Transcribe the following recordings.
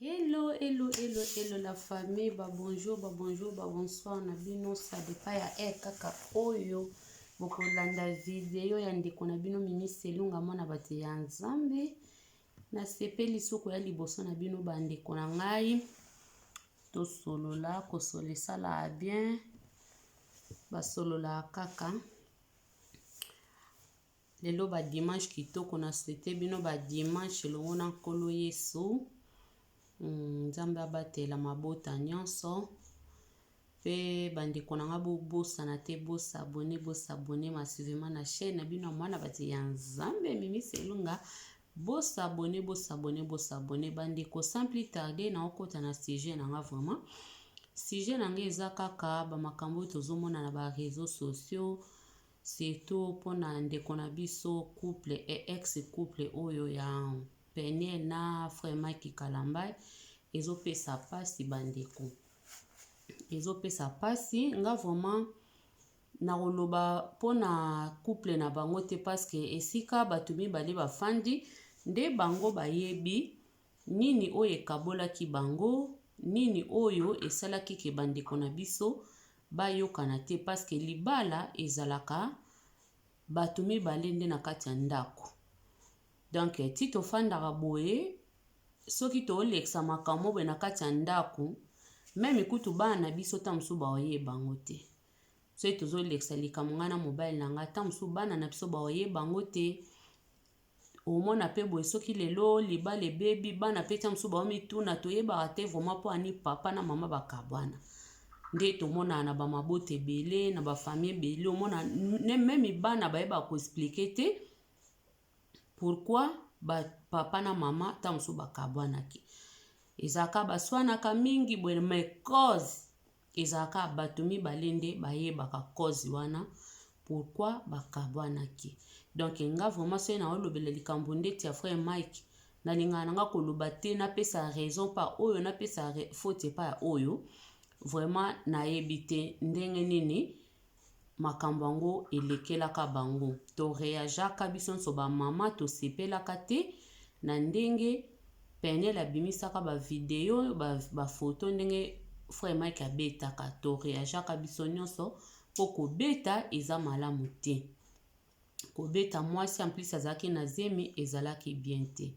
Hello, hello, hello, hello la famille, ba bonjour, ba bonjour, ba bonsoir na bino, ça dépend ya heure kaka oyo bokolanda video ya ndeko na bino Mimi Selunga mwana bato ya Nzambe. Nasepeli soko ya liboso na bino ba ndeko na ngai, tosolola kosolesala bien, basolola kaka Lelo ba dimanche kitoko na souhaite bino ba dimanche elongo na nkolo Yesu. Hmm, Nzambe abatela mabota nyonso. Pe bandeko na nga bobosana te bosabone bosabone masivema na chaîne na bino ya mwana bati ya Nzambe Mimi Selunga. Bosabone bosabone bosabone bandeko sans plus tarder na okota na sujet na nga vraiment. Sujet na nga eza kaka ba makambo oyo tozomona na ba réseaux sociaux Surtout pona ndeko na biso couple et ex couple oyo ya Peniel na Vraiment Kikalambay ezo pesa pasi ba ndeko. Ezo pesa pasi nga vraiment nakoloba pona couple na bango te parce que esika batu mibale bafandi nde bango bayebi Nini oyo ekabolaki bango? Nini oyo esalaki ke ba ndeko na biso ba yokana te? Parce que libala ezalaka batu mibale nde na kati ya ndaku. Donc ti to fandaka boye soki to lekisa makambo moko boye na kati ya ndaku meme kutu bana na biso tango mosusu ba oyeba yango te. Soki tozo lekisa likambo ngai na mobali na ngai tango mosusu bana na biso ba oyeba yango te. Omona pe boye soki lelo libala ebebi bana pe tia mosusu baomituna toyebaka te vraiment mpo ani papa na mama bakabwana nde tomonaka na bamabota ebele na bafamille ebele omona meme bana bayebaka koexplike te pourkui papa na mama ntango mosusu bakabwanaki ezalaka baswanaka mingi boye mai cause Ezalaka batu mibale nde bayebaka cause wana pourquoi bakabuanaki donc nga vraiment soki na olobela likambo ndeti ya frère Mike nalingaka na nga koloba te napesa raison pa oyo napesa faute epa ya oyo vraiment nayebi te ndenge nini makambo yango elekelaka bango to reageaka biso nso ba mama tosepelaka te na ndenge penel abimisaka ba video ba, ba photo ndenge frère Mike abetaka to reageaka biso nyonso mpo kobeta eza malamu te kobeta mwasi en plus azalaki na zemi ezalaki bien te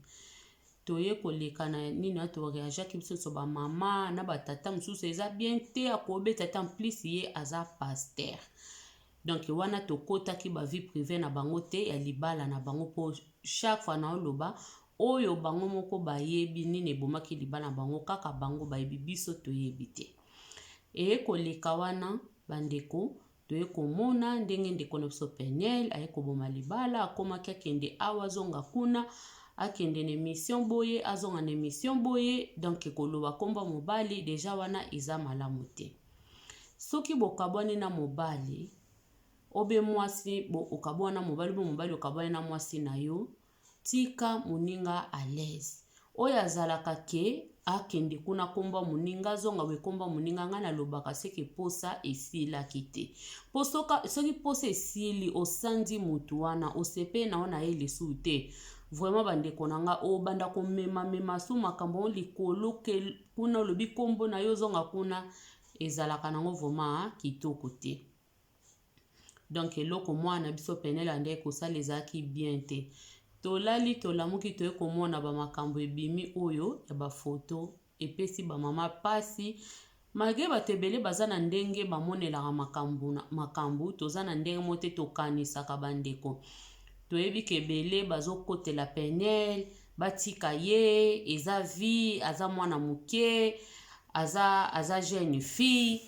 toye koleka na nini wana toreageaki biso nyonso bamama na batata mosusu eza bien te akobeta te en plus ye aza paster donk wana tokotaki bavie prive na bango te ya libala na bango mpo chaque fois naoloba oyo bango moko bayebi nini ebomaki libala na bango kaka bango bayebi biso toyebi te eye koleka wana bandeko Toye komona ndenge ndeko na biso Peniel aye koboma libala, akomaki akende awa azonga kuna, akende na emission boye azonga na emission boye, donc koloba kombo mobali deja wana eza malamu te. Soki bokabwani na mobali obe mwasi bo okabwana mobali bo mobali okabwani na mwasi na yo, Tika muninga à l'aise. Oyo azalaka que akende kuna akomba muninga azonga boye komba muninga nga nalobaka ce que posa esilaki te po soki posa esili osanzi mutu wana osepeli na yo na ye lisusu te vraiment bandeko na nga obanda komema mema su makambo yango likolo ke kuna olobi kombo na yo ozonga kuna ezalaka nango vraiment kitoko te donc eloko mwana na biso penele ande kosala ezalaki bien te tolali tolamuki toye komona bamakambo ebimi oyo ya bafoto epesi bamama mpasi malgre bato ebele baza na ndenge bamonelaka makambo makambo toza na ndenge mo te tokanisaka bandeko toyebi ke ebele bazokotela penele batika ye eza vie aza mwana moke aza aza jeune fille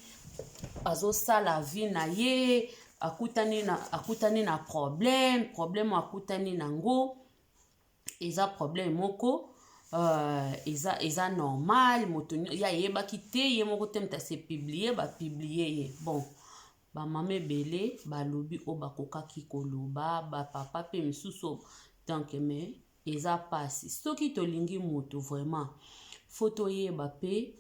azosala vie na ye akutani na akutani na problème problème akutani na ngo eza problème moko uh, eza eza normal moto ye ayebaki te ye moko te moto ase publie bapiblie ye bon bamama ebele balobi oyo bakokaki koloba bapapa mpe misusu donc mais Eza pasi soki tolingi mutu vraiment faut toyeba pe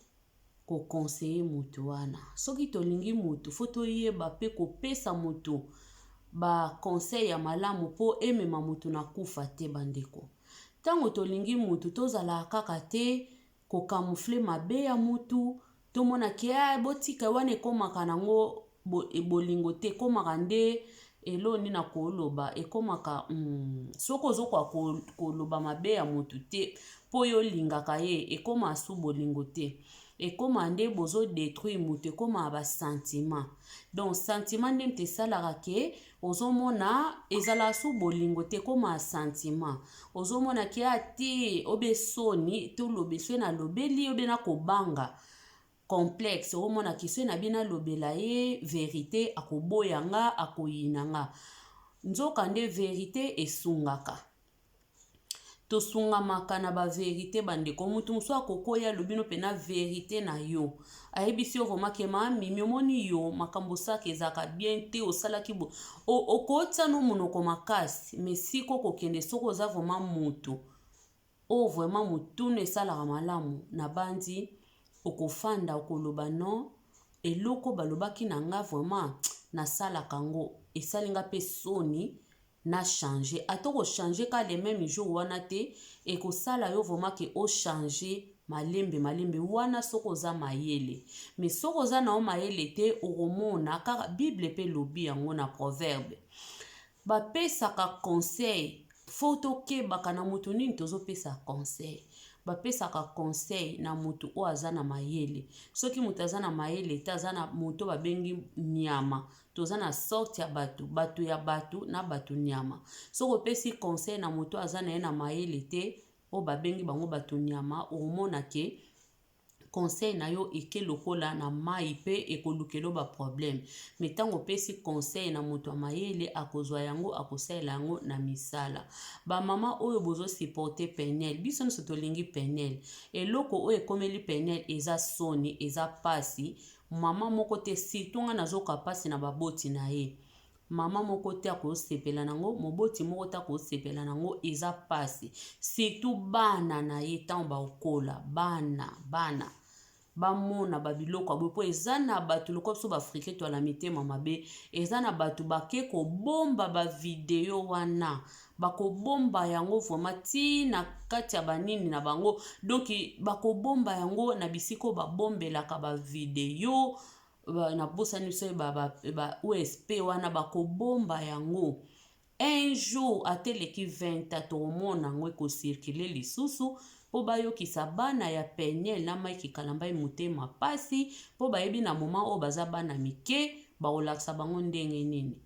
ko conseiller mutu wana soki tolingi mutu faut toyeba pe kopesa mutu ba conseil ya malamu po emema mutu na kufa te ba ndeko tango tolingi mutu tozalaka kaka te ko camoufler mabe ya mutu tomona ke ah, botika wana ekomaka nango bo, e, bolingo te ekomaka nde elo nini akoloba ekomaka mm, soki ozokoka koloba mabe ya mutu te mpo yo olingaka ye ekoma su bolingo te ekoma nde bozodetruire moto ekoma basentiment donc sentiment nde moto esalaka ke Ozomona ezala su bolingo te ekoma sentiment ozomona kia te obe soni tolobe soki nalobeli obe nakobanga complexe omona ke soki nabi nalobela ye verite akoboya nga akoyina nga nzoka nde verite esungaka tosungamaka na ba verite bandeko mutu mosusu akokoya alobi no pena verite na yo ayebisi yo vrema ke ma mimi omoni yo makambo osaka ezalaka bien te osalaki bo okotia no monoko makasi me siko kokende soki oza vrema mutu oyo vrema motuna esalaka malamu na banzi okofanda okoloba no eloko balobaki na nga vrema nasalaka yango esali nga mpe soni na changer ata oko changer ka le meme jour wana te ekosala yo vraiment ke o changer malembe malembe wana soki oza mayele mais soki oza na yo mayele te okomona kaka bible pe lobi yango na proverbe bapesaka conseil fo tokebaka na moto nini tozopesa conseil bapesaka conseil na moto oyo aza na mayele soki moto aza na mayele te aza na moto babengi nyama toza na sorte ya bato bato ya bato na bato nyama soki opesi conseil na moto aza na ye na mayele te oyo babengi bango bato nyama omona ke conseil na yo eke lokola na mai mpe ekolukelo baproblème me ntango opesi conseil na moto ya mayele akozwa yango akosalela yango na misala bamama oyo bozosupporte penel biso nyonso tolingi penel eloko oyo ekomeli penel eza soni eza mpasi Maman moko te surtout nga nazoka pasi na ba boti na ye maman moko te akosepela na ngo moboti moko te akosepela na ngo eza pasi surtout bana na ye ntango bakokola bana bana bamona babiloko ya boye mpo eza na bato lokola biso baafrike to ya na mitema mabe eza na bato bake kobomba bavideo wana bakobomba yango vraimen ti na kati ya banini na bango donk bakobomba yango na bisika oyo babombelaka bavideo na bosani so ba usp wana bakobomba yango un jour ata eleki 20 a tokomona yango ekocirkule lisusu mpo bayokisa bana ya peniel na mike kalambai motema mpasi mpo bayebi na moma oyo baza bana mike bakolakisa bango ndenge nini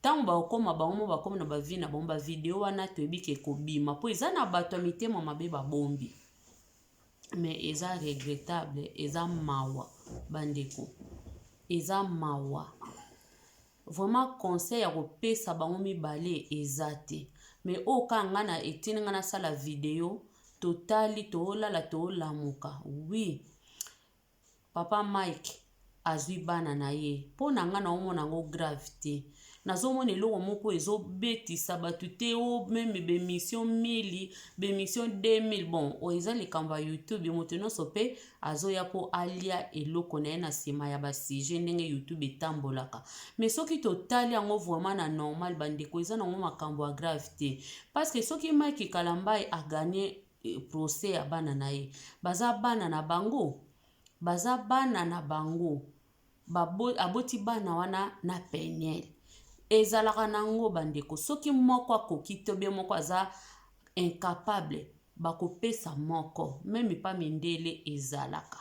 Tango bakokoma bango mo bakomi na ba vie na bango ba video wana toyebi ke ekobima po eza na bato ya mitema mabe babombi mais eza regrettable eza mawa bandeko eza mawa vraiment conseil ya kopesa bango mibale eza te mais oyo oh, kaka ngai na etini ngai nasala video totali toolala toolamuka wi oui. Papa Mike azui bana na ye po na nga na omona yango grave te nazomona eloko moko ezobetisa bato te o oh, meme bemission 1000 bemission 2000 bon oyo eza likambo ya youtube moto nyonso mpe azoya mpo alia eloko na ye na nsima ya basujet ndenge youtube etambolaka me soki totali yango vraiment na normal bandeko eza nango makambo ya grave te parceke soki mike kalambai aganye procès ya bana na ye baza bana na bango baza bana na bango Babo, aboti bana wana na peniel ezalaka nango bandeko soki moko akoki to bie moko aza incapable bakopesa moko meme pa mindele ezalaka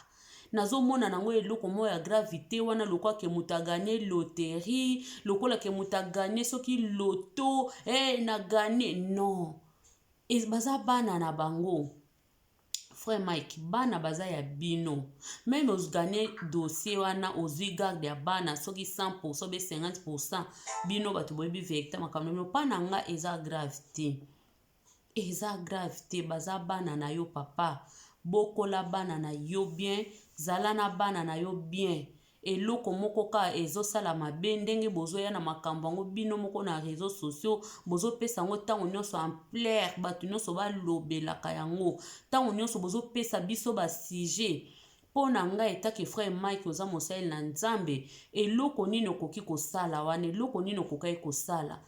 nazomona nango eloko moko ya gravité wana lokola ke moto aganye loterie lokola ke moto aganye soki loto e eh, hey, na ganye non Et baza bana na bango. Frère Mike, bana baza ya bino. Même os gagner dossier wana ozui garde ya bana soki 100% be 50% bino bato boyebi verite makambo no pa na nga eza grave te. Eza grave te baza bana na yo papa. Bokola bana na yo bien, zala na bana na yo bien. Eloko moko kaka ezo sala mabe ndenge bozo ya na makambu yango bino moko na reseaux sociaux bozo pesa yango tango nionso ampleur batu nionso ba lobelaka yango tango nionso bozo pesa biso ba sujet mpo na ngai etake frère mike oza mosaleli na nzambe eloko nini okoki kosala wana eloko nini okokaki kosala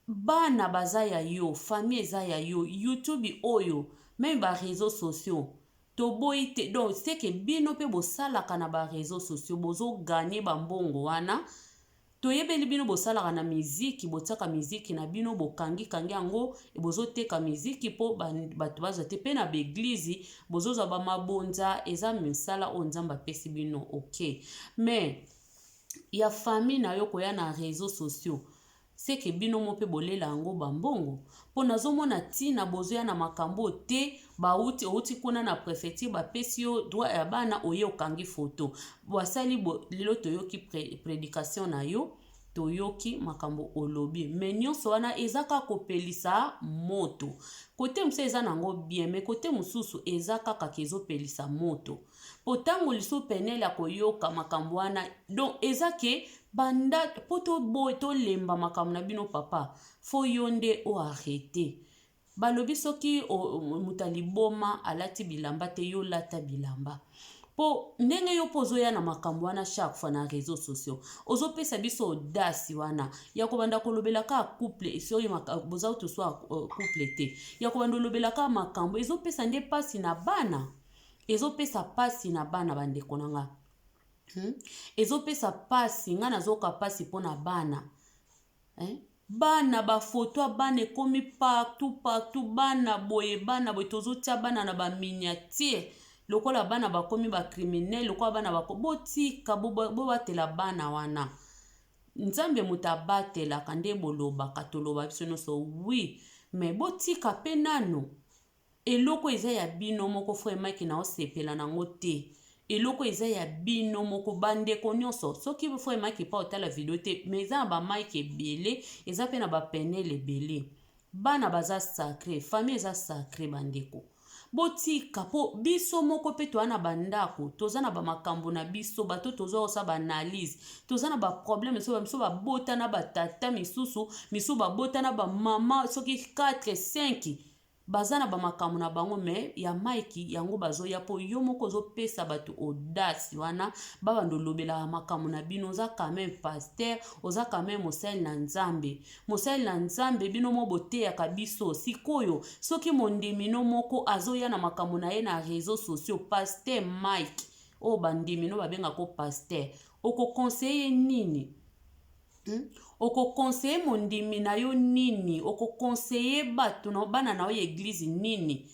Bana baza ya yo, famille eza ya yo, YouTube oyo meme ba reseaux sociaux toboyi te donc ce que bino pe bosalaka na ba reseaux sociaux bozo gagner ba mbongo wana toyebeli bino bosalaka na miziki botiaka miziki na bino bokangi kangi yango bozoteka miziki mpo bato bazwa te mpe na baeglize bozozwa bamabonza eza misala oyo nzambe apesi bino ok mais ya famille na yo koya na réseau sociaux Ce que bino mo pe bolela yango ba mbongo? Po nazo mona tina bozo ya na makambo oyo te, ba wuti owuti kuna na prefecture ba pesi yo droit ya bana oye okangi photo ba sali boye lelo toyoki predication na yo toyoki makambo olobi mais nionso wana eza kaka kopelisa moto cote mosusu eza nango bien mais cote mosusu eza kaka ke ezo pelisa moto po ntango liso penele akoyoka makambo wana donc eza ke banda po toboye tolemba makambo na bino papa fo yo nde o arrete balobi soki moto ya liboma alati bilamba te yo lata bilamba po ndenge yo mpo ozoya na makambo wana chaque fois na réseau sociaux ozopesa biso odasi wana ya kobanda kolobela kaka couple soki boza kutu swa euh, couple te ya kobanda olobela kaka makambo ezopesa nde mpasi na bana ezopesa mpasi na bana bandeko na nga hmm? ezopesa mpasi nga nazoka mpasi mpo na bana eh? bana bafoto ya bana ekomi partout partout bana boye bana boye tozotya bana na baminiatire lokola bana bakomi bakriminele lokola bana bako botika bobatela bo bana wana nzambe moto abatelaka nde bolobaka toloba biso nyonso wi me botika mpe nano Eloko eza ya bino moko vraiment ke nao sepela nango te eloko eza ya bino moko ba ndeko nionso soki vraiment ke pa otala video te mais eza na ba mike ebele eza pe na ba penel ebele bana baza sacre famille eza sacre ba ndeko botika po biso moko pe toza na ba ndako toza na ba makambo na biso bato toza osa ba analyse toza na ba problème biso ba biso babota na ba tata misusu misusu babota na ba mama soki 4 5 Baza na ba makambo na bango mais ya Mike yango bazoya po yo moko ozo pesa batu audace wana ba banda olobelaka makambo na bino oza quand meme pasteur oza quand meme mosali na Nzambe mosali na Nzambe bino mo boteyaka biso sikoyo soki mondimi no moko azoya na makambo na ye na reseaux sociaux pasteur Mike oyo bandimi no babenga ko pasteur oko conseiller nini Hmm? okokonseye mondimi na yo nini okokonseye bato na bana na yo ya eglize nini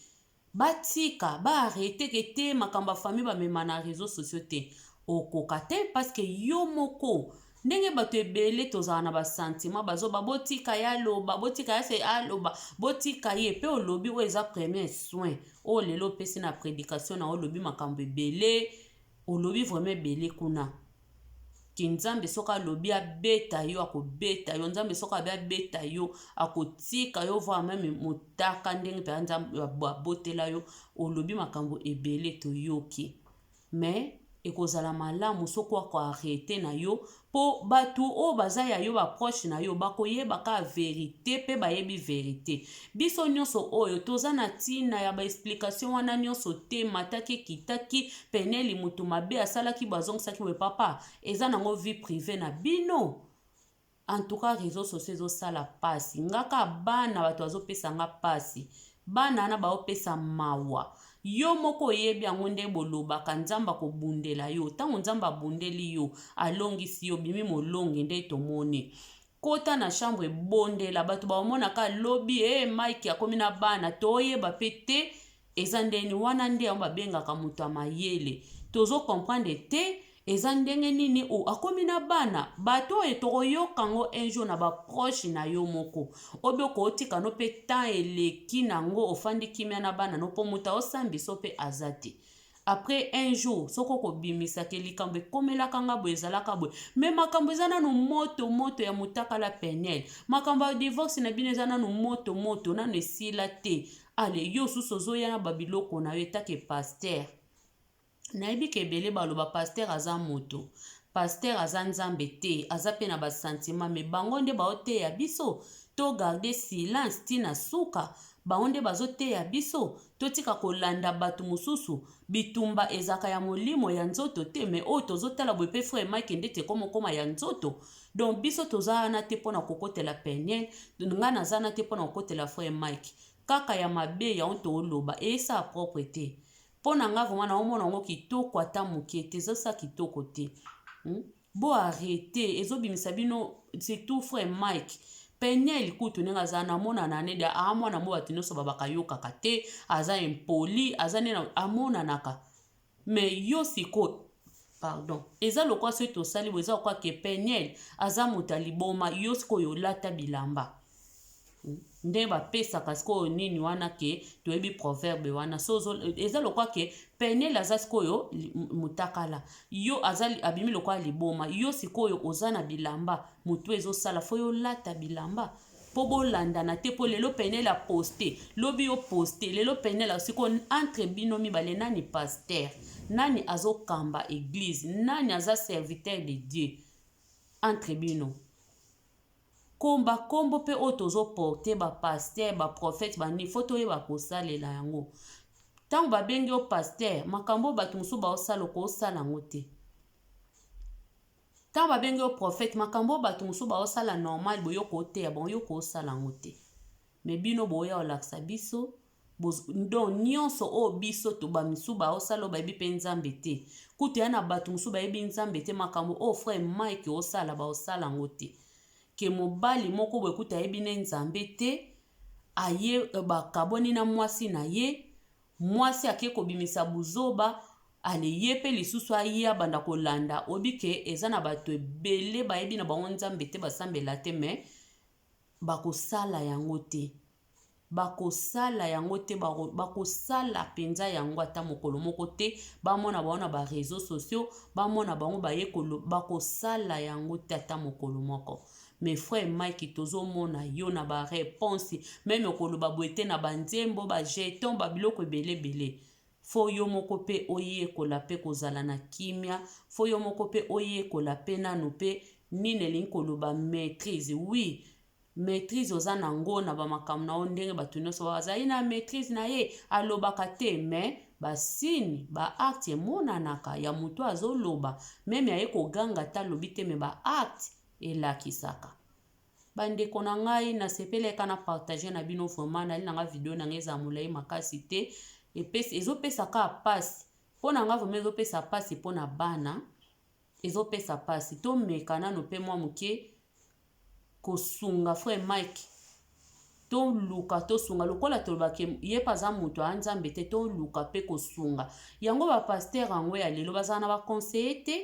batika baarete ke te makambo ya famille bamema na réseau sociaux te okoka te parceke yo moko ndenge bato ebele tozala na basantima bazoba botika ye aloba botika ye se aloba botika ye mpe olobi oyo eza premier soin oyo oh, lelo opesi na prédication na olobi makambo ebele olobi vraiment ebele kuna ke nzambe soki alobi abeta yo akobeta yo nzambe soki alobi abeta yo akotika yo voir meme motaka ndenge mpenza nzambe abotela yo olobi makambo ebele toyoki mais ekozala malamu soki ako arrete na yo mpo bato oyo baza ya yo baproche na yo bakoyeba kaka verite mpe bayebi verite Biso nyonso oyo toza na ntina ya baexplikatio wana nyonso te, mataki ekitaki, peneli motu mabe asalaki bo azongisaki boye papa, eza nango vie prive na bino? En tout cas reseaux sociaux ezosala pasi nga ka bana bato bazopesa nga pasi bana wana baopesa mawa yo moko oyebi yango nde bolobaka nzambe akobundela yo ntango nzambe abundeli yo alongisi yo bimi molongi nde tomoni Kota na chambre bondela batu baomona ka lobi hee eh, Mike akomi na bana toyeba pe te eza ndeni wana nde yango babengaka moto ya mayele tozo comprendre te eza ndenge nini o akomi na bana bato oyo tokoyoka ngo un jour na baproche na yo moko obe okootika no mpe temps eleki na ngo ofandi kimia na bana no mpo moto aosambisa mpe aza te après un jour soki okobimisa ke likambo ekomelaka nga boye ezalaka boye me makambo eza nanu moto moto ya motakala penel makambo ya divorce na bino eza nanu moto moto nanu esila te ale yo osusu ozoya na babiloko na yo etake paster nayebi ke ebele baloba paster aza moto paster aza nzambe te aza mpe na basantima me bango nde baoteya biso to garde silence ntina suka bango nde bazoteya biso Totika kolanda batu mususu. Bitumba ezalaka ya molimo ya nzoto te mais oyo tozo tala boye pe frère Mike ndeti ekomo koma ya nzoto donc biso toza wana te pona kokotela peniel nga naza wana te pona kokotela frère Mike kaka ya mabe yango tooloba eyesa propre te pona nga vraiment naomona yango kitoko ata muke te ezosa kitoko te hmm? Bo arrete ezo bimisa bino surtout frère Mike peniel kutu ndenge aza namonana nede aa ah, mwana mo bato nyonso babaka yokaka te aza impoli aza nde amonanaka me yo sikoyo pardon eza lokola soki tosali bo eza lokola ke peniel aza moto ya liboma yo sikoyo olata bilamba nde bapesaka sikoyo nini wana ke toyebi proverbe wana so eza lokwa ke penele aza sikoyo mutakala yo aza abimi lokwa liboma yo sikoyo oza na bilamba motu ezosala fo yo lata bilamba mpo bolandana te mpo lelo penele aposte lobi yo poste lelo penele sikoyo entre bino mibale nani paster nani azokamba eglise nani aza serviteur de dieu entre bino Comme ba kombo pe oyo tozo porter ba pasteur ba prophète ba nini faut toyeba kosalela yango tango ba bengi yo pasteur makambo oyo batu mosusu bao sala oko sala yango te tango ba bengi yo prophète makambo oyo batu mosusu bao sala normal boye oko teya bango yo oko sala yango te mais bino boya olakisa biso donc nyonso oyo biso to bamisu baosala oyo bayebi mpe nzambe te kutu ya na bato mosusu bayebi nzambe te makambo oyo frère mike osala baosala yango te ke mobali moko boye kutu ayebi ne nzambe te aye euh, bakabwani na mwasi na ye mwasi ake kobimisa buzoba ale ye mpe lisusu aye abanda kolanda oyebi ke eza na bato ebele bayebi na bango nzambe te basambela te mais Bakosala yango te. Bakosala yango te, bakosala mpenza yango ata mokolo moko te. Bamona bango na ba reseaux sociaux, bamona bango baye koloba, bakosala yango te ata mokolo moko. Mais frère Mike tozomona yo na ba reponse meme koloba boye te na ba nzembo ba jetons ba biloko ebele ebele. Fo yo moko pe oyekola pe kozala na kimia, fo yo moko pe oyekola pe nanu pe nini elingi koloba maitrise, oui maitrise oza na ngo na ba makambo na yo ndenge batu nioso ba zali na maitrise na ye, alobaka te mais ba signe ba acte emonanaka ya mutu azo loba meme aye ko ganga ata alobi te mais ba acte elakisaka. Bandeko na ngai na sepeleka na partage na bino vraiment nali na ngai video na ngai ezala molai makasi te epesi ezopesa kaka mpasi mpo na ngai vraiment ezopesa mpasi mpo na bana ezopesa mpasi tomeka nano mpe mwa moke kosunga frère mike toluka tosunga lokola tolobaki ye mpe aza moto ya nzambe te toluka mpe kosunga yango bapaster yango ya lelo bazala na baconseille te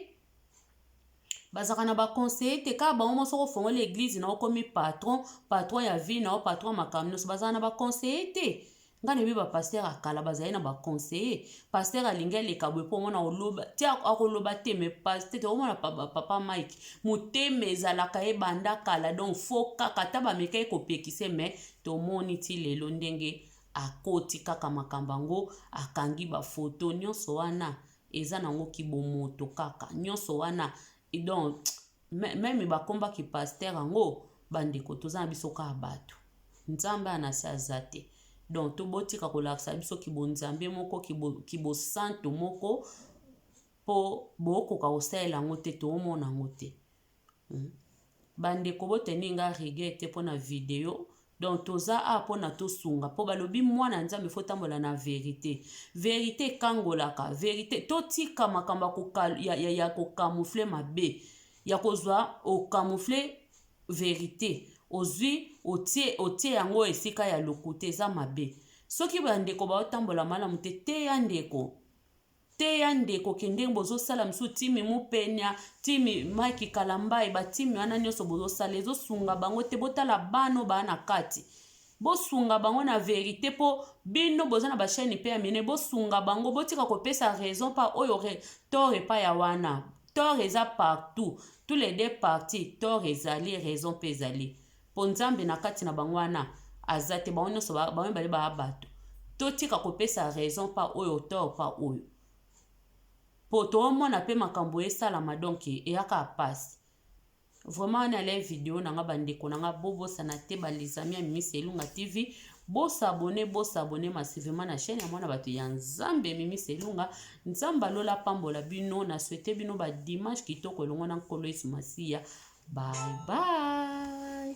bazalaka na baconseiller te kaka bango moko soki ofongola eglize na okomi patron patron ya vie na yo patron ya makambo nyonso bazalaka na baconseiller te ngai nayebi bapaster ya kala bazali na baconseiller paster alingi aleka boye mpo omona oloba ti akoloba te me paster te omona papa mike motema ezalaka ye banda kala donc fo kaka ata bamekaki kopekise me tomoni ti lelo ndenge akoti kaka makambo yango akangi bafoto nyonso wana eza nango kibomoto kaka nionso wana donc meme bakomba ki pasteur yango bandeko toza na biso kaka bato nzambe ya na se aza te donc tobotika kolakisa biso kibonzambe moko kibosantu kibo moko mpo bokoka kosalela yango te toomona yango te Ba ndeko bo tenir nga rigueur te pona video donc toza awa pona tosunga po balobi mwana ya nzambe faut otambola na verite verite ekangolaka verite totika makambo ya, koka, ya, ya, ya kokamoufle mabe ya kozwa okamoufle verite ozwi otie otie yango esika ya lokuta eza mabe soki bandeko baotambola malamu te teya ndeko teya ndeko ke ndenge bozosala mosusu timi mupenia timi mike kalambayi batimi wana nyonso bozosala ezosunga bango te botala bana oyo baa na kati bosunga bango na verite mpo bino boza na bachaine mpe ya mine bosunga bango botika kopesa raison pa oyo re, tort epai ya wana tort eza partout tous les deux parti tort ezali raison mpe ezali Po Nzambe na kati na bango wana aza te, bango nionso ba bango mibale baa batu. Totika kopesa raison pa oyo tort pa oyo. Po toomona pe makambo esalama donc eya kaka pasi. Vraiment nalela video na nga ba ndeko na nga bobosana te ba les amis ya Mimi Selunga TV Bo s'abonner, bo s'abonner massivement na chaîne ya mwana bato ya Nzambe Mimi Selunga. Nzambe ya lola apambola bino. Na souhaite bino ba dimanche kitoko elongo na Nkolo Yesu Masiya. Bye bye.